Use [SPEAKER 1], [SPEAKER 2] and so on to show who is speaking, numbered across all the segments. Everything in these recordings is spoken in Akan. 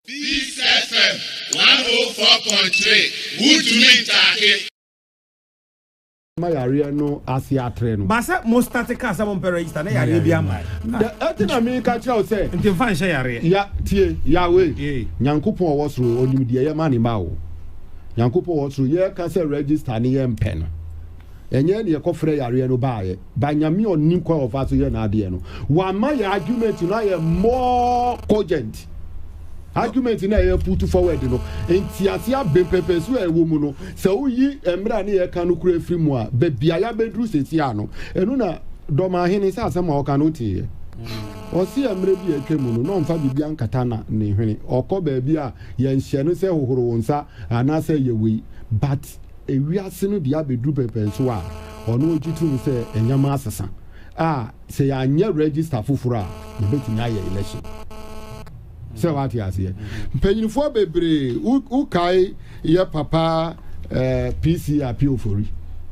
[SPEAKER 1] Peace FM one oh four point three wotumi ntaake.
[SPEAKER 2] ma yareɛ no ase atrɛ no. Baasa mo start kaa
[SPEAKER 3] sɛ mo mpɛ register na yareɛ bi ama. Ɛti na mi
[SPEAKER 2] ka kyerɛ o sɛ. Nti nfa nhyɛ yareɛ.
[SPEAKER 3] Ya tie
[SPEAKER 2] yawe. Nyankopɔn ɔwɔ soro onim deɛ yɛ ma ne ma o. Nyankopɔn ɔwɔ soro yɛ ka sɛ register ne yɛ mpɛ no. Ɛnyɛ ɛna yɛkɔfrɛ yareɛ no baeɛ but Nyame a ɔnim kwan a ɔfa so yɛ n'adeɛ no wama yɛ argument no ayɛ more cogent argument no a yɛ put forward no ntease abem pɛpɛ so a ɛwɔ mu no sɛ woyi mmerɛ a ne yɛka no kura firi mu a baabi a yɛabɛduru sɛsi a no ɛno na dɔmahene sɛ asɛm a ɔka no woteeɛ ɔse mmerɛ bi a atwa mu no na ɔmfa biribi ankata na ne hwene ɔkɔ baabi a yɛnhyɛ no sɛ hohoro wo nsa anaasɛ yɛ wei but wiase no de abedu pɛpɛn so a, ɔno ogye tom sɛ nneɛma asesa a, sɛ yɛanyɛ register foforo a, yɛbɛtumi ayɛ election. Sɛ wate aseɛ. Mpanyinfoɔ bebree, wokae yɛ papa eh, PC Appeal Ofori.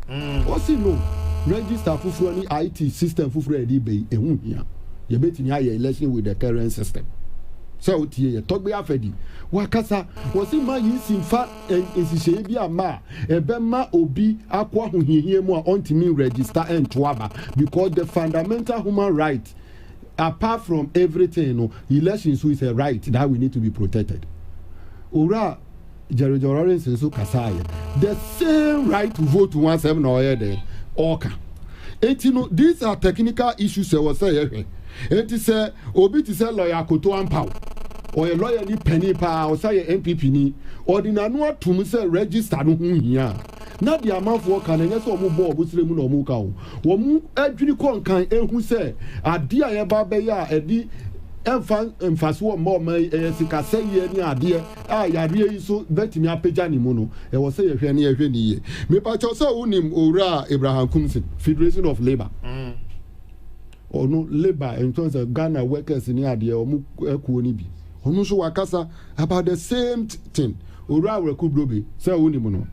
[SPEAKER 2] Ɔsi mm. no, register foforo ne IT system foforo a yɛde bɛyi, ɛho hia. Yɛbɛtumi ayɛ election with the current system. Sɛ wotie yɛ tɔgbe afɛdi, wakasa, wɔsi ma yi si mfa nhyehyɛe bi amma a, ɛbɛma obi akɔ ahohiahia mu a ɔntumi nregister nto aba because the fundamental human right apart from everything no, election nso is a right that we need to be protected. Owura Jerry John Rawlings nso kasaeɛ the same right to vote ho asɛm na ɔyɛ dɛn ɔka. Enti no, these are technical issues ɛwɔ sɛ yɛhwɛ. Enti sɛ obi te sɛ Lɔya Akoto Ampaw, ɔyɛ lɔyani panin paa, ɔsan yɛ NPP ni, ɔde n'ano atom sɛ register no ho hia a, na deɛ amanfoɔ ka no, ɛnyɛ sɛ wɔbɔ wɔn srɛ mu na wɔka o. Wɔadwini kɔ nkan ahu sɛ adeɛ a yɛba abɛyɛ a ɛde ɛmfa mfasoɔ mma ɔman yi, ɛyɛ sikasɛeɛ ne adeɛ a yareɛ yi nso bɛtumi apagya ne mu no, ɛwɔ sɛ yɛhwɛ na yɛhwɛ no yie. Mepa kyɛw sɛ wonim Owura Abraham Kumsing, Federation of Labour? Ɔno labour and tɔn sɛ Ghana workers ne adeɛ wɔn kuo no bi. Ɔno nso wakasa about the same thing. Owura Awereku Brobe sɛ wonim no,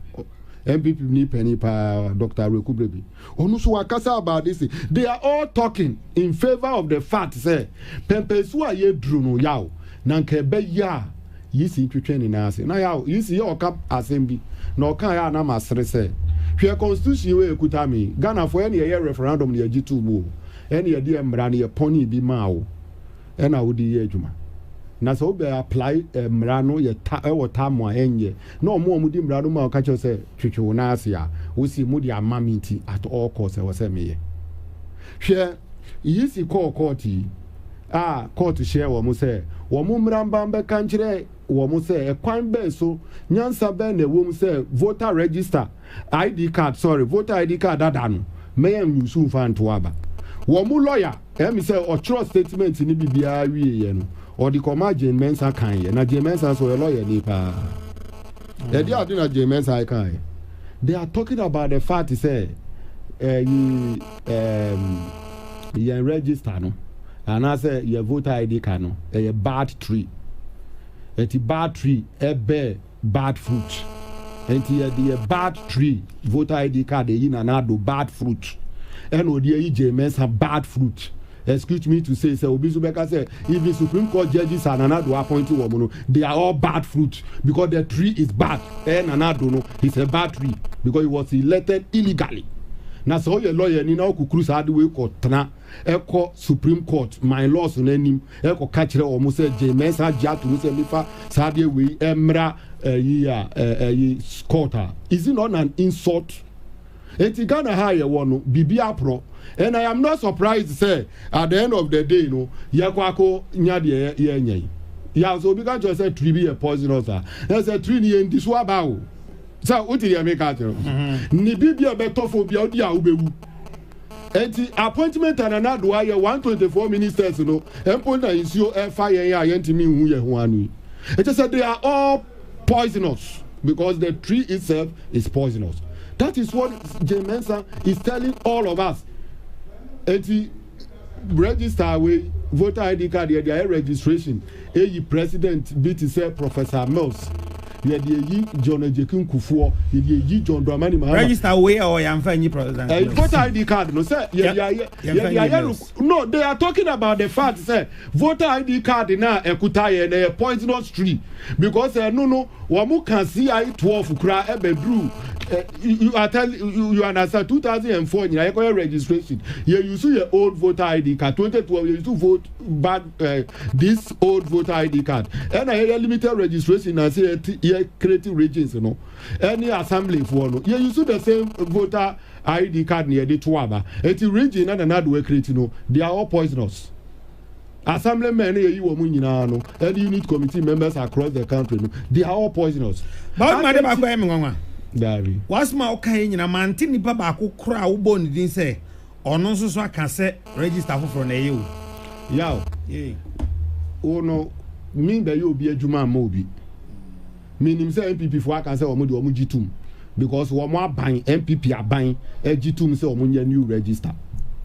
[SPEAKER 2] NPP ni panin paa Doctor Awereku Brobe. Ɔno nso wakasa about this. They are all talking in favour of the fact sɛ pɛmpɛnsu a yɛduru no yaw na nka ɛbɛyɛ a Yisi twetwee ne nan ase. Na yaw, Yisi yɛ ɔka asɛm bi, na ɔkaeɛ a na masere sɛ, Hwɛ constitution wei a ɛkuta me yi, Ghanafoɔ, ɛne yɛyɛ referendum na yɛgye too mu o, ɛne yɛde yɛn mmara no yɛpɔnee bi maa wo, ɛna wode reyɛ adwuma. Na sɛ wobɛ apply eh, mmara no yɛ ta, ɛwɔ tam a ɛnyɛ, na ɔmo a wɔde mmara no ma ɔka kyerɛ sɛ twetwe wo nan ase a, wose mode ama me nti at all cost ɛwɔ sɛ meyɛ. Hwɛ, Yisi kɔɔ kɔɔte yi. a kɔɔto hyɛɛ wɔn sɛ wɔmmra mma mmɛka nkyerɛ wɔn sɛ ɛkwan bɛn so, nyansa bɛn na ɛwom sɛ voter register ID card, sorry, voter ID card dada no ma yɛnuse mfa nto aba. Wɔn lɔya, ɛyɛ me sɛ ɔtwerɛ statement no biribiara wieeɛ no, ɔde kɔmaa Jane Mensah kaeɛ. Na Jane Mensah nso ɔyɛ lɔyani paa. Ɛde ade na Jane Mensah kaeɛ. They are talking about the fact sɛ ɛyi. um, yɛn register no anaasɛ yɛ voter id card no ɛyɛ bad tree ɛti bad tree ɛbɛ bad fruit ɛnti yɛde yɛ bad tree voter id card ɛyi nana ado bad fruit ɛna ɔde ayi gyee mɛnsa bad fruit Excuse me to say sɛ obi nso bɛka sɛ even supreme court judges a Nana Addo appoint wɔn no they are all bad fruit because the tree is bad ɛyɛ Nana Addo no he is a bad tree because he was elected illegally na sɛ ɔyɛ lawyer ni na ɔkukuru saa de wei kɔ tena ɛkɔ supreme court my laws no anim ɛkɔ ka kyerɛ wɔn sɛ gye mɛnsa agye ato mu sɛ mefa saa deɛ wei ɛmmra ɛyi a ɛyi court a is it not an insult. Enti Ghana ha a yɛwɔ no biribi aporɔ and I am not surprised sɛ at the end of the day no yɛkɔ akɔ nya deɛ yɛrenya yi. Yeah, sɛ obi ka kyerɛ sɛ tree bi yɛ poisonous a, na sɛ tree no yɛndi so aba o. Sɛ wote deɛ meka akyerɛ wo. Mm-hmm. Ne biribi a ɛbɛtɔ fam bia wodi a wobɛwu. Enti appointment a Nana Addo ayɛ 124 ministers no mpo na nsuo ɛfa yɛn a yɛntumi nhu yɛn ho ano yi. Ɛkyɛ sɛ they are all poisonous because the tree itself is poisonous that is what Jane Mensah is telling all of us eti register wei voter ID card yɛde ayɛ registration eyi president bi te sɛ Professor Mills yɛde eyi John Agyekin Kufuor yɛde eyi John Dramani Mahama register wei a ɔyɛ anfa
[SPEAKER 3] nyi president eh, Mills voter ID card no
[SPEAKER 2] sɛ yɛde ayɛ yɛde ayɛ no no they are talking about the fact sɛ Voter ID card no a ɛkuta yɛn no ɛyɛ poisonous tree because ɛno no wɔn ka CI twelve koraa ɛbɛduru you are tell you understand two thousand and four nyinaa yɛkɔyɛ registration yɛ use yɛ old voter ID card twenty twelve yɛ use vote bad uh, this old voter ID card ɛna yɛyɛ limited registration na se yɛ create regions no ɛne assembly foɔ no yɛ use the same voter ID card na yɛde to aba. Enti Regine na Nana Addo Akireti no, they are all poisonous. Assembly men na yɛyi wɔn nyinaa no, ɛne unit committee members across the country no, they are all poisonous. Bawuma ade baako
[SPEAKER 3] ɛyɛ me nwanwa. Daabi.
[SPEAKER 2] W'asɛm a woka yɛ
[SPEAKER 3] nyinaa mante nipa baako koraa a wobɔɔ ne din sɛ ɔno nso so aka sɛ register foforɔ na ɛyɛ o. Yaw. Yay.
[SPEAKER 2] Wo no, min bɛyɛ obi adwuma mma obi. Menim sɛ NPP foɔ aka sɛ wɔn deɛ wɔn gye tum because wɔn aban NPP aban agye tum sɛ wɔn nyɛ new register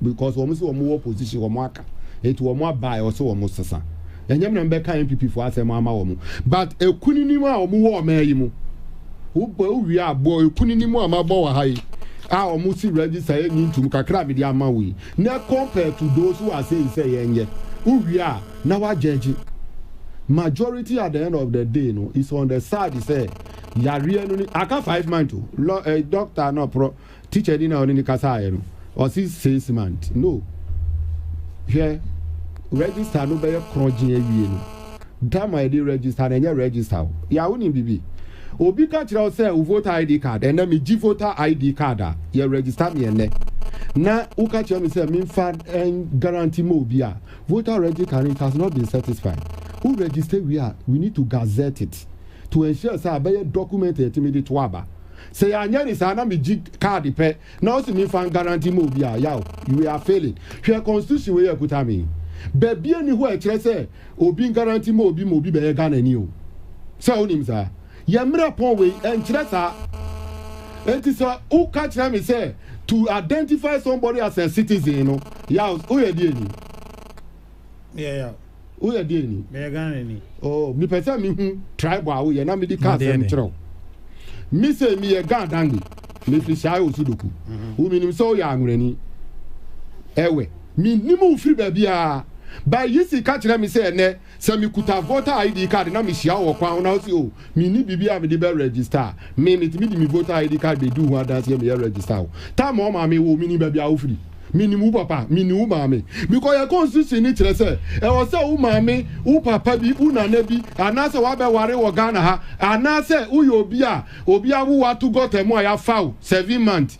[SPEAKER 2] because wɔn sɛ wɔn wɔ opposition wɔn aka eti wɔn aba a ɔsɛ wɔn sesa ɛnyɛ mmerɛ mbɛka NPP foɔ asɛm ama wɔn but ekuninim a wɔn wɔ ɔman yi mu wobɔ owie abɔ ekuninim a mabɔ wɔ ha yi a wɔn si register yɛ nyi ntum kakra a mede ama wo yi na compare to those who are saying sɛ yɛnyɛ wowie a na wa gyɛgye. Majority at the end of the day no is on the side sɛ yareɛ no ni aka five month o lɔ ɛ eh, doctor na ɔprɔ teacher ni na ɔne ni kasa ayɛ no ɔsi six month no hwɛ register no bɛyɛ korɔgye awie no time a yɛde register na ɛnyɛ register o yɛ a wonim bibi obi ka kyerɛ wo sɛ wo voter id card ɛnɛ megye voter id card a yɛ register me ɛnɛ na woka kyerɛ me sɛ memfa guarantee ma obi a Voter regi carry it has not been certisfied wo register wie a we need to gazette it to ensure sɛ abɛyɛ document a yɛtumi de to aba sɛ yɛanyɛ ne saa na megye card pɛ na wo se menfa ngarante ma obi a yaw we are failing hwɛ constitution wei akuta me yi baabi ani hɔ a ɛkyerɛ sɛ obi ngarante ma obi ma obi bɛyɛ Ghanani o sɛ wonim saa. Yɛ mmerɛ pɔn wei, ɛnkyerɛ saa. Enti sɛ wo ka kyerɛ me sɛ to identify somebody as a citizen no, yaw, wo yɛ deɛ ni? Me
[SPEAKER 3] yɛ yaw. Wo yɛ
[SPEAKER 2] deɛ ni? Me yɛ Ghana ni. Oh,
[SPEAKER 3] me pɛ sɛ me
[SPEAKER 2] hu tribe a wo yɛ na me de ka asɛm kyerɛ wo. Me se me yɛ Ghana dangbe, me firi Shai Osudoku. Mm-hmm. Wo me nim sɛ wo yɛ anwerɛni. Ɛwɛ, me nim wo firi baabi a, ba yi si ka kyerɛ me sɛ ɛnɛ Sɛ mekuta voter ID card na mehyia wo wɔ kwan ho na wose oh, menni biribi a mede bɛ register a, me metumi de me voter ID card bɛdi ho adanseɛ meyɛ register wo. Tam a wo maame woo wo, menim baabi a wofiri. Menim wo papa, menim wo maame. Bikɔ yɛ constitution no kyerɛ sɛ ɛwɔ sɛ wo maame, wo papa bi, wo nana bi anaasɛ wabɛware wɔ Ghana ha anaasɛ woyɛ obi a obi awo wo ato gɔta mu a yɛafa wo seven months.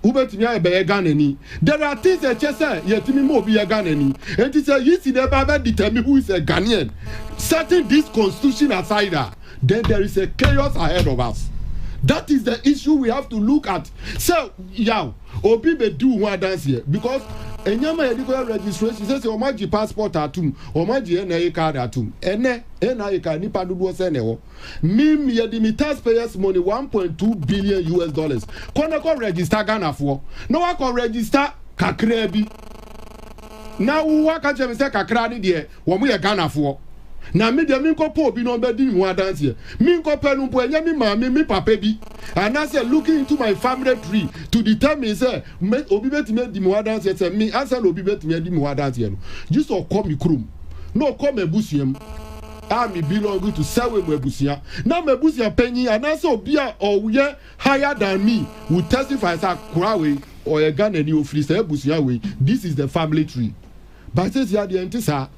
[SPEAKER 2] Wobɛtumi ayɛ bɛyɛ Ghanani. There are things ɛkyɛ sɛ yɛtumi ma obi yɛ Ghanani. Enti sɛ Yeacy na ɛba bɛ determine who is a Ghanaian, setting this constitution aside a, then there is a chaos ahead of us. That is the issue we have to look at sɛ yaw obi bɛdi wo ho adanseɛ because nneɛma yɛde kɔyɛ registration sɛsɛ wɔn agye passport atom, wɔn agye NIA card atom. Ɛnɛ NIA card nipa dodoɔ sɛn na ɛwɔ? Mim yɛde me tax payers money one point two billion US dollars kɔ na kɔ register Ghanafoɔ na wakɔ register kakraa bi na waka kyerɛ me sɛ kakraa ne deɛ wɔn yɛ Ghanafoɔ na me deɛ menkɔ pɔ obi na ɔbɛdi me ho adanseɛ menkɔ pɛ no mpo ɛnyɛ me maame me papa bi anaasɛ looking into my family tree to determine sɛ obi bɛtumi adi me ho adanseɛ sɛ me ansa na obi bɛtumi adi me ho adanseɛ no gye sɛ ɔkɔ me kurom na ɔkɔ m'abusuam a me belong to sɛwe mo abusua na m'abusua panyin anaasɛ obi a ɔyɛ higher than me will testify sɛ akora wei ɔyɛ Ghanani ofiri saa abusua wei this is the family tree but sɛsi adeɛ nte saa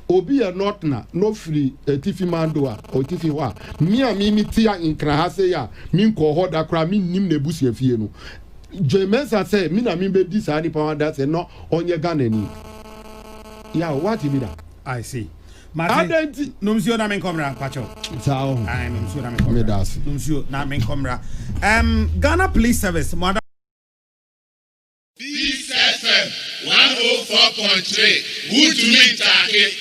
[SPEAKER 2] obi yɛ nɔtena na ofiri atifi mando a ɔtifi hɔ a me a me me te a nkra ha sei a me nkɔɔ hɔ da koraa me nnim n'abusua fie no Jay Mensah sɛ me na me bɛdi saa nipa ho adanseɛ na ɔnyɛ Ghanani yaw wate bi da. I see.
[SPEAKER 3] Mate. Adɛn nti? Nom nsuo na menkɔ mmra mpakyɛw. Saa o. Ae,
[SPEAKER 2] nom nsuo na menkɔ
[SPEAKER 3] mmra. Meda ase. Nom nsuo na menkɔ mmra. Um, Ghana Police Service, mo ada.
[SPEAKER 1] Peace FM 104.3 Wuntumi Ntaake.